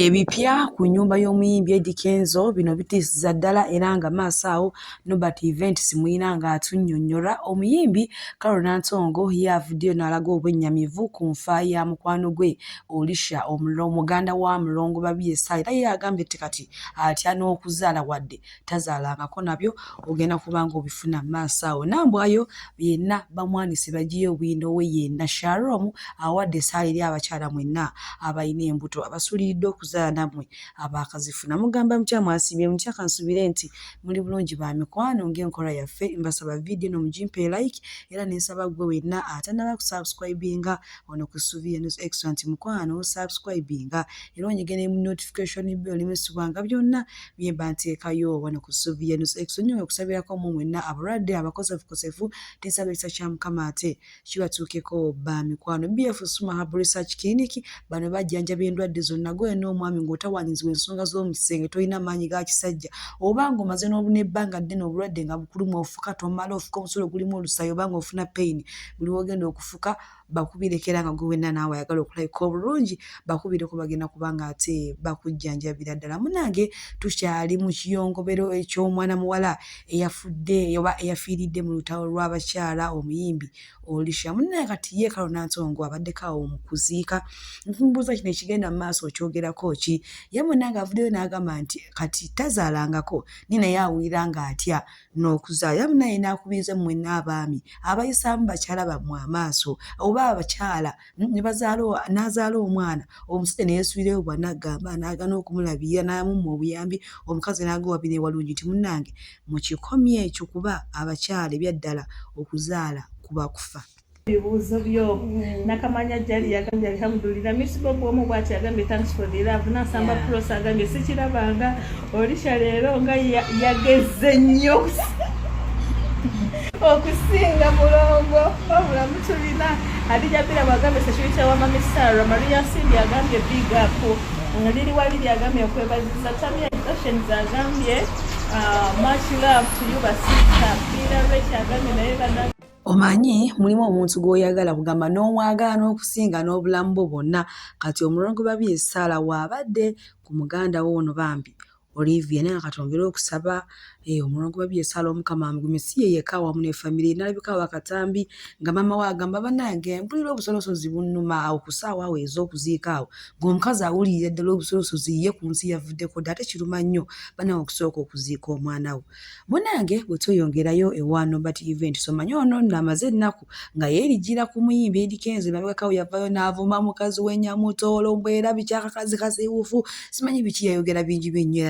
Ebipya ku nnyumba y'omuyimbi Eddy Kenzo bino bitiisizza ddala era nga maaso awo Norbert Event Simuyina ng'atunnyonnyola. Omuyimbi Carol Nantongo ye avuddeyo n'alaga obwennyamivu ku nfa ya mukwano gwe Olisha muganda wa Mulongo Babirye Ssali era ye agambye nti kati atya n'okuzaala wadde tazaalangako nabyo ogenda kubanga obifuna maaso awo nambwayo yenna bamwanise bagiyo obuyinda owe yenna sharom awadde esaala eri abakyala mwenna abalina embuto abasuliridde okuzaala nammwe abaakazifuna mugamba mutya mwasiibye mutya kansubire nti muli bulungi ba mikwano ng'enkola yaffe mbasaba vidiyo no mugimpe like era nensaba gwe wenna atanaba kusubscribinga ono ku subi enos excellent mukwano subscribinga era onyige ne notification byo olimesibwanga byonna Yemba nteekayo wano ku ssuubi yenu ekusonyiwe okusabirako mu mwenna abalwadde abakosefukosefu tensaba ekisa kya mukama ate kibatuukeko ba mikwano BF Suma Hub Research Clinic bano bajjanjaba endwadde zonna gwe n'omwami ng'otawaanyizibwa ensonga z'omu kisenge tolina maanyi ga kisajja oba ng'omaze n'ebbanga ddene obulwadde nga bukuluma ofuka tomala ofuka omusolo gulimu olusaayi oba ng'ofuna peyini buli wogenda okufuka bakubiireko era nga gwe wenna naawe ayagala okulabika obulungi bakubiireko bagenda kuba nga ate bakujjanjabira ddala munange tukyali mu kiyongobero eky'omwana muwala eyafudde oba eyafiiridde mu lutalo lw'abakyala omuyimbi olisha munange kati ye kalo nantongo abaddeko awo mu kuziika nkimubuuza kino ekigenda mu maaso okyogerako ki ye munange avuddeyo n'agamba nti kati tazaalangako ni naye awulira ng'atya n'okuzaala era munaye n'akubiriza mmwenna abaami abayisaamu bakyala bammwe amaaso oba abakyala mm, n'azaala omwana omusajja ne yeesuulirayo bwana agamba n'agana okumulabirira n'amumma obuyambi omukazi n'aga wabi newalungi nti munnange mukikomye ekyo kuba abakyala ebyaddala okuzaala kuba kufa ebibuuzo byo mm. nakamanya jali yagambye alhamdulila misibobu omu bwati yagambye thanks for the love nasamba yeah. pros agambye sikirabanga olisha leero nga yageze nnyo okusinga mulongo wabula mutulina adija bira bagambye security wa mami sara maria simbi agambye big up liri waliri agambye okwebaziza tamia actions agambye uh, much love to you basista bira rech agambye naye omanyi mulimu omuntu gw'oyagala kugamba n'omwagala n'okusinga n'obulamu bwo bwonna kati omulongo babye esaala waabadde ku muganda wo ono bambi olivia naye kati ongere okusaba eh, omulongo babye esaala omukama amugume si ye yekka awamu ne famire nalabika wakatambi nga maama we agamba banange mpulira obusolosozi bunnuma awo ku saawa awo ez'okuziika awo ng'omukazi awulirira ddala obusolosozi ye ku nsi yavuddeko dda ate kiruma nnyo banawe okusooka okuziika omwana we munange bwe tweyongerayo ewa nobert event somanya ono nno amaze ennaku nga yeerigira ku muyimbi edi kenzo emabegakawo yavayo n'avuma mukazi wenyamutoolo mbu era bikyakakazi kasiwufu simanyi biki yayogera bingi byennyo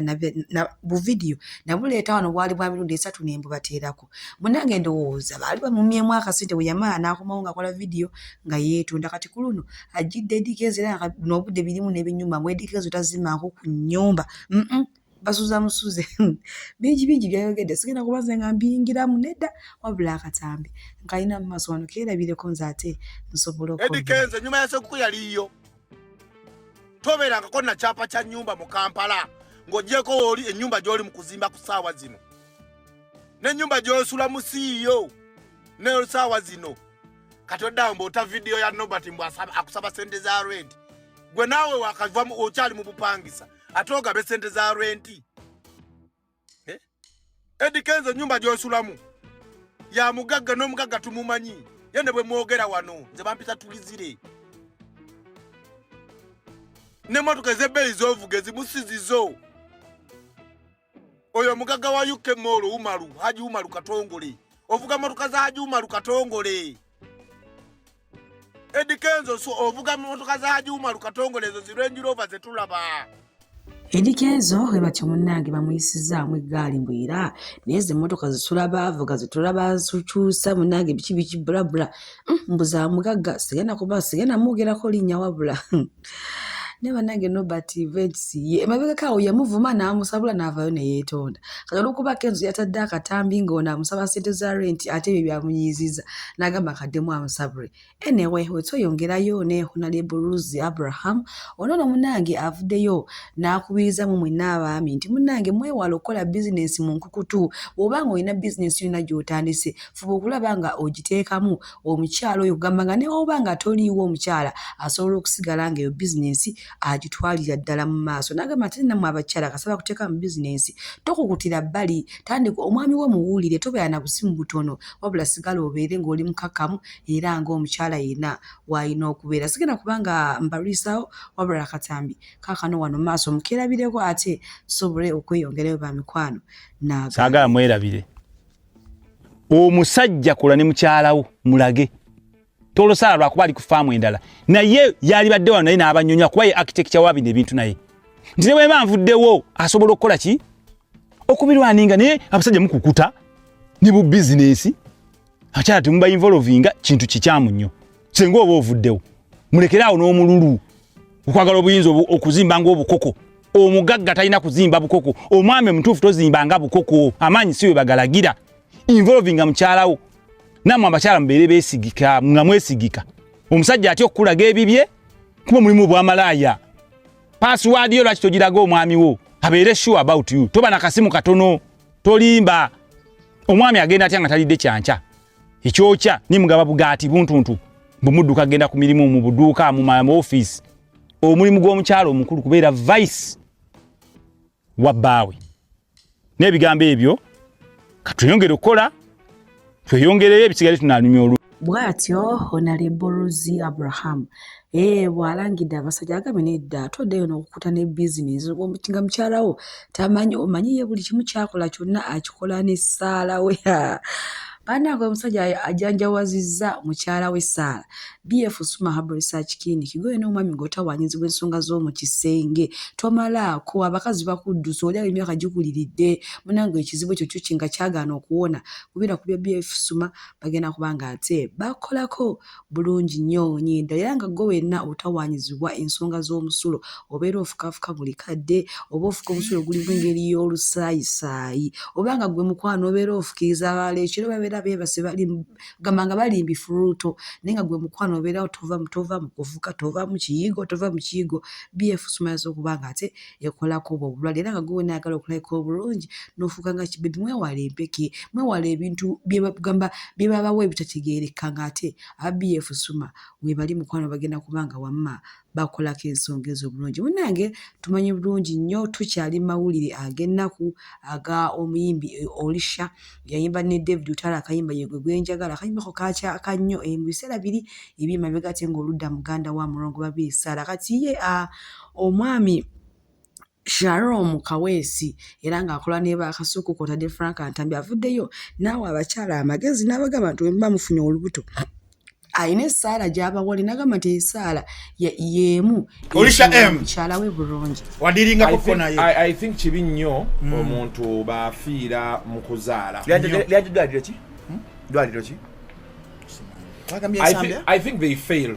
era buvidiyo nabuleeta wano bwali bwa mirundi esatu ne mbubateerako munange ndowooza baali bamumyemu akasente bwe yamala n'akomawo ng'akola vidiyo nga yeetonda kati ku luno ajjidde edi kenzo era n'obudde birimu n'ebinyuma mu edi kenzo tazimanku ku nnyumba mm -mm. basuza musuze bingi bingi byayogedde sigenda kuba nze nga mbiyingiramu nedda wabula akatambi nkalina mu maaso wano keerabireko nze ate nsobola edikenze ennyuma ya sekuku yaliyo tobeerangako na kyapa kya nnyumba mu kampala ng'ogyeko wooli ennyumba gy'oli mu kuzimba ku ssaawa zino n'ennyumba gy'osula mu siiyo nesaawa zino kati oddawo mbaota vidiyo ya nobert mbw akusaba sente za redi gwe naawe wakavamu okyali mu bupangisa ate ogabe sente za renti eh? edi kenzo nyumba gyosulamu ya mugagga n'omugagga tumumanyi ye ne bwe mwogera wano nze bampita tulizire n'emmotoka ez'ebbeeyi z'ovuga ezimusizizo oyo omugagga wa uk mall umaru haji umaru katongole ovuga motoka za haji umaru katongole edikenzo so ovuga motoka za haji umaru katongole ezo zirenjirova zetulaba edikenzo we batyo munnange bamuyisizaamu eggaali mbu era naye ze mmotoka zisula baavuga zitula bazikyusa munnange biki biki bulabula hmm, mbu za mugagga sigenda kuba sigenda mwogerako linnya wabula hmm. naye banange nobert vegc ye emabegako awo yamuvuma n'amusabula n'avaayo ne yeetonda kati olwokuba kenzo yatadde akatambi ng'ono amusaba sente za renti ate ebyo byamunyiiziza n'agamba akaddemu amusabule enewe wetweyongerayo ne honalebo rusi abraham ono no munange avuddeyo n'akubiriza mu mwenna abaami nti munange mwewala okukola bizinensi mu nkukutu bw'oba nga olina bizinensi yonna gy'otandise fuba okulaba nga ogiteekamu omukyala oyo kugamba nga newoba nga toliiwo omukyala asobola okusigala nga eyo bizinensi agitwalira ddala mu maaso nagamba ate namwe abakyala kasaba kuteeka mu bizinensi tokukutira bbali tandika omwami wo muwulire tobeera na busimu butono wabula sigala obeere ng'oli mukakamu era ng'omukyala yena waalina okubeera sigenda kubanga mbalwisawo wabula akatambi kakano wano maaso mukerabireko ate tusobole okweyongerayo ba mikwano naagala mwerabire omusajja kola ne mukyalawo mulage tolosala lwakuba ali ku faamu endala naye yalibadde wano naye n'abanyonyola kuba ye architecture wa bino ebintu naye nti ne bweba nvuddewo asobola okukola ki okubirwaninga naye abasajja mukukuta ne bu bizinesi akyala temuba involvinga kintu kikyamu nnyo senga oba ovuddewo mulekere awo n'omululu okwagala obuyinza okuzimba ngaobukoko omugagga talina kuzimba bukoko omwami omutuufu tozimba nga bukoko amaanyi si we bagalagira involvinga mukyalawo namwe abakyala mubeere besigika nga mwesigika omusajja atya okukulaga ebibye kuba mulimu bwamalaaya pasiwaadi yo lwaki togiraga omwami wo abeere sure about you toba na kasimu katono tolimba omwami agenda atya nga talidde kyankya ekyokya ni mugaba bugaati buntuntu bumudduka genda ku mirimu mu buduuka mu maofiisi omulimu gw'omukyalo omukulu kubeera vice wa bbaawe n'ebigambo ebyo katweyongere okukola tweyongereyo ebisigale tunanyumya olu bwatyo honalebo ruzi abraham Ee, bw'alangidde abasajja agambye nedda ate oddeyo n'okukuta ne bizinensi nga mukyala wo tamanyi omanyi ye buli kimu kyakola kyonna akikola n'essaala we banaga omusajja ajanjawazizza mukyala we saala bf suma habal research clinic goyo n'omwami ng'otawanyizibwa ensonga z'omu kisenge tomalaako abakazi bakuddusa oli awo emyaka gikuliridde munange ekizibu ekyo kyo kinga kyagaana okuwona kubira ku bya bf suma bagenda kuba nga ate bakolako bulungi nnyo onyindo era nga gwe wenna otawaanyizibwa ensonga z'omusulo obeera ofukaafuka buli kadde oba ofuka omusulo gulimu engeri y'olusaayisaayi oba nga gwe mukwano obeera ofukiriza abalala ekiro babeera beebase gamba nga balimbi fuluuto naye nga gwe mukwano obeerawo tova mu kufuka tova mu kiyigo tova mu kiyigo byefusumayaza okuba nga ate ekolako obwo obulwadde era nga gwe wena ayagala okulabika obulungi nofuuka nga kibebi mwewale empeke mwewale ebintu byebagamba byebabawa ebitategeereka nga ate aba bf suma webali mukwano bagenda kubanga wamma bakolako ensonga ezo obulungi munange tumanyi bulungi nnyo tukyali mawulire ag'ennaku aga omuyimbi e, olisha yayimba ne david utala akayimba yegwe gwenjagala akayimbako kakyaka nnyo e, mu biseera biri ebyemabega ate ngaoludda muganda wa mulongo babiisaala kati ye a ah, Omwami Sharom Kaweesi era ng'akola ne ba Kasuku kw'otadde Frank Ntambi avuddeyo n'awa abakyala amagezi n'abagamba nti bwe muba mufunye olubuto alina essaala gy'abawole n'agamba nti esaala y'emu mukyala we bulungi wadiringakoko naye i think kibi nnyo hmm. omuntu baafiira mu kuzaala lyagidwaliro ki dwaliro ki I, th I think they fail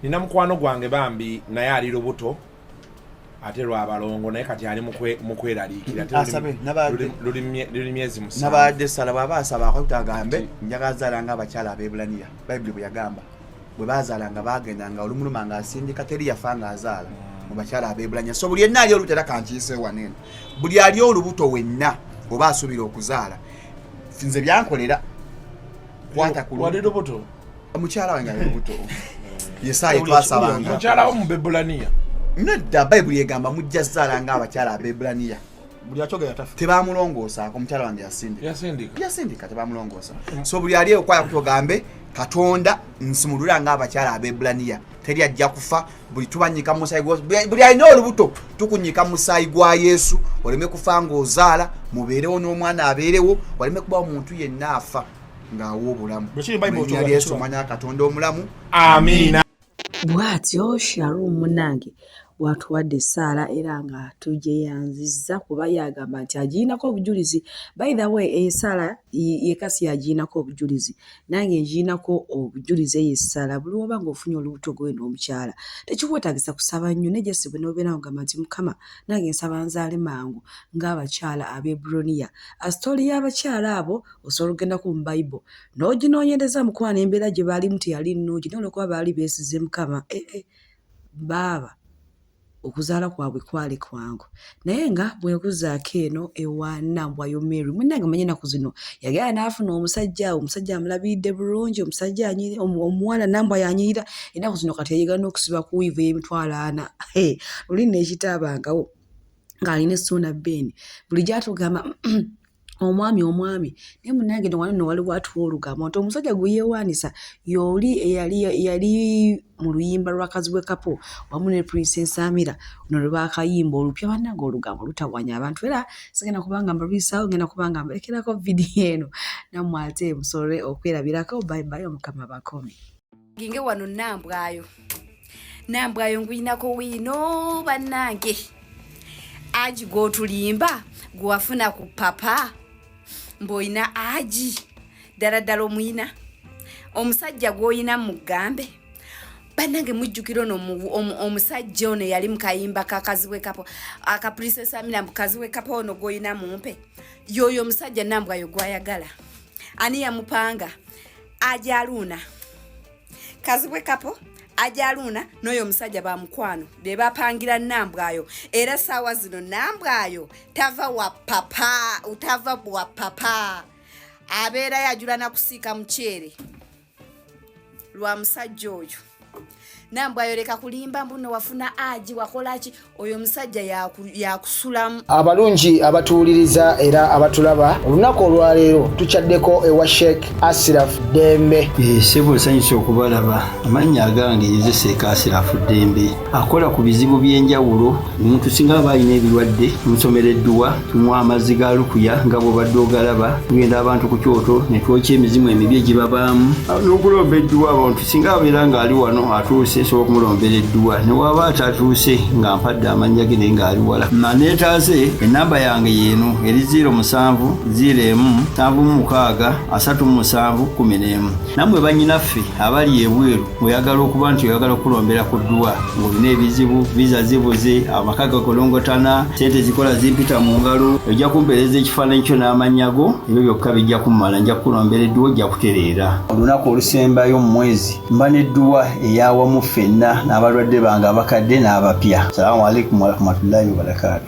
nina mukwano gwange bambi naye ali lubuto ate lwabalongo naye kati ali mukweraliikiraluli myezi musnabadde sala bwaba asaba akutagambe njagala zala nga abakyala abebulaniya bayibuli bweyagamba bwe bazala nga bagenda nga olumuluma nga asindika teri yafa nga azaala mm. mu bakyala abebulaniya so buli yenna ali olubuto era kankiise wanene buli ali olubuto wenna oba asuubira okuzaala nze byankolera kwata ku lubuto omukyala wange ali lubuto yesaayi twasabanga mukyala wo mu bebulaniya nedda bayibuli egamba mujja zaala nga abakyala abebulaniya buli akyogera tafa tebamulongoosa omukyala wange yasindika yasindika yasindika tebamulongoosa so buli ali okwaya kutogambe katonda nsumulula nga abakyala abebulaniya teri ajja kufa buli tubanyika mumusaayi gwa buli alina olubuto tukunyika musaayi gwa yesu oleme kufa ng'ozaala mubeerewo n'omwana abeerewo waleme kuba omuntu yenna afa ng'awa obulamu erinnya lyesu omanya katonda omulamu amiina bwatyo shalom munange bwatuwadde essaala era nga tugyeyanzizza kuba yagamba nti agirinako obujulizi by the way eyo essaala yekasi yagirinako obujulizi nange ngirinako obujulizi eyo essaala buli woba nga ofunye olubuto gwe n'omukyala tekikwetagisa kusaba nnyo naye jesi bwe nobeera ngamba nti mukama nange nsaba nzaale mangu ng'abakyala abebroniya asitooli y'abakyala abo osobola okugenda ku bible n'oginoonyereza mukwano embeera gye baalimu teyali nnungi naye olwokuba baali beesize mukama ee eh, eh, baaba okuzaala kwabwe kwali kwangu naye nga bwekuzaako eno ewanambwayo mary munange manye enaku zino yagenda n'afuna omusajja omusajja amulabiridde bulungi omusajja omuwala nambwa yanyirira enaku zino kati yayegana okusiba ku wiivu y'emitwalo ana luli neekitaabangawo ng'alina essuuna beeni buli gyatugamba omwami omwami naye munange newano newaliwo atuwa olugambo nti omusajja gwe yeewaanisa yooli eyali yali mu luyimba lwa kazibwe kapo wamu ne prince ensamira no lwe baakayimba olupya bannange olugambo lutawanya abantu era sigenda kubanga mbalwisaawo ngenda kubanga mbarekerako vidiyo eno nammwe ate musole okwerabirako bye bye omukama bakomi ginge wano nambwayo nambwayo nguyinako wino banange aji gwotulimba gwewafuna ku papa mboyina aji ddala ddala omuyina omusajja gwoyina mugambe banange mujjukira ono omusajja ono eyali mukayimba kakazibwe kapo akaprisesamira mukazibwe kapo ono gwoyina mumpe yoyo omusajja nambwayo gwayagala ani yamupanga ajaluuna kazibwe kapo ajaluuna n'oyo omusajja ba mukwano be bapangira nambwayo era saawa zino nambwayo tava wa papa utava wa papa abeerayo ajula nakusiika muceere lwa musajja oyo nambwe ayoleka kulimba mbuno wafuna aji wakolaki oyo omusajja yakusulamu ya abalungi abatuwuliriza era abatulaba olunaku olwaleero tukyaddeko ewa sheik asiraf dembe eh, sebo nsanyusa okubalaba amannya agange yeze seeka asirafu dembe akola ku bizibu by'enjawulo omuntu singa aba alina ebirwadde omusomera edduwa tunywa amazzi ga lukuya nga bwobadde ogalaba tugenda abantu ku kyoto netwokya emizimu emibi egibabaamu n'okulomba edduwa abantu singa abeera ng'ali wano atuuse sobola okumulombera edduwa ne waaba atatuuse nga mpadde amannya ge naye ng'ali wala maneetaaze ennamba yange yeeno eri 0 musanvu 0 emu nsanvu mu mukaaga asatu mu musanvu kumi n'emu nammwe bannyinaffe abali ebweru oyagala okuba nti oyagala okukulombera ku dduwa ng'olina ebizibu viza zibuze amaka gakolongotana sente zikola zimpita mu ngalo ojja kumpeereza ekifaananyi kyo n'amannya go ebyo byokka bijja kummala nja kukulombera edduwa ojja kutereera olunaku olusembayo mu mwezi mba n'edduwa eyawamu ffenna n'abalwadde bange abakadde n'abapya salamu alaikum warahmatullahi wabarakatu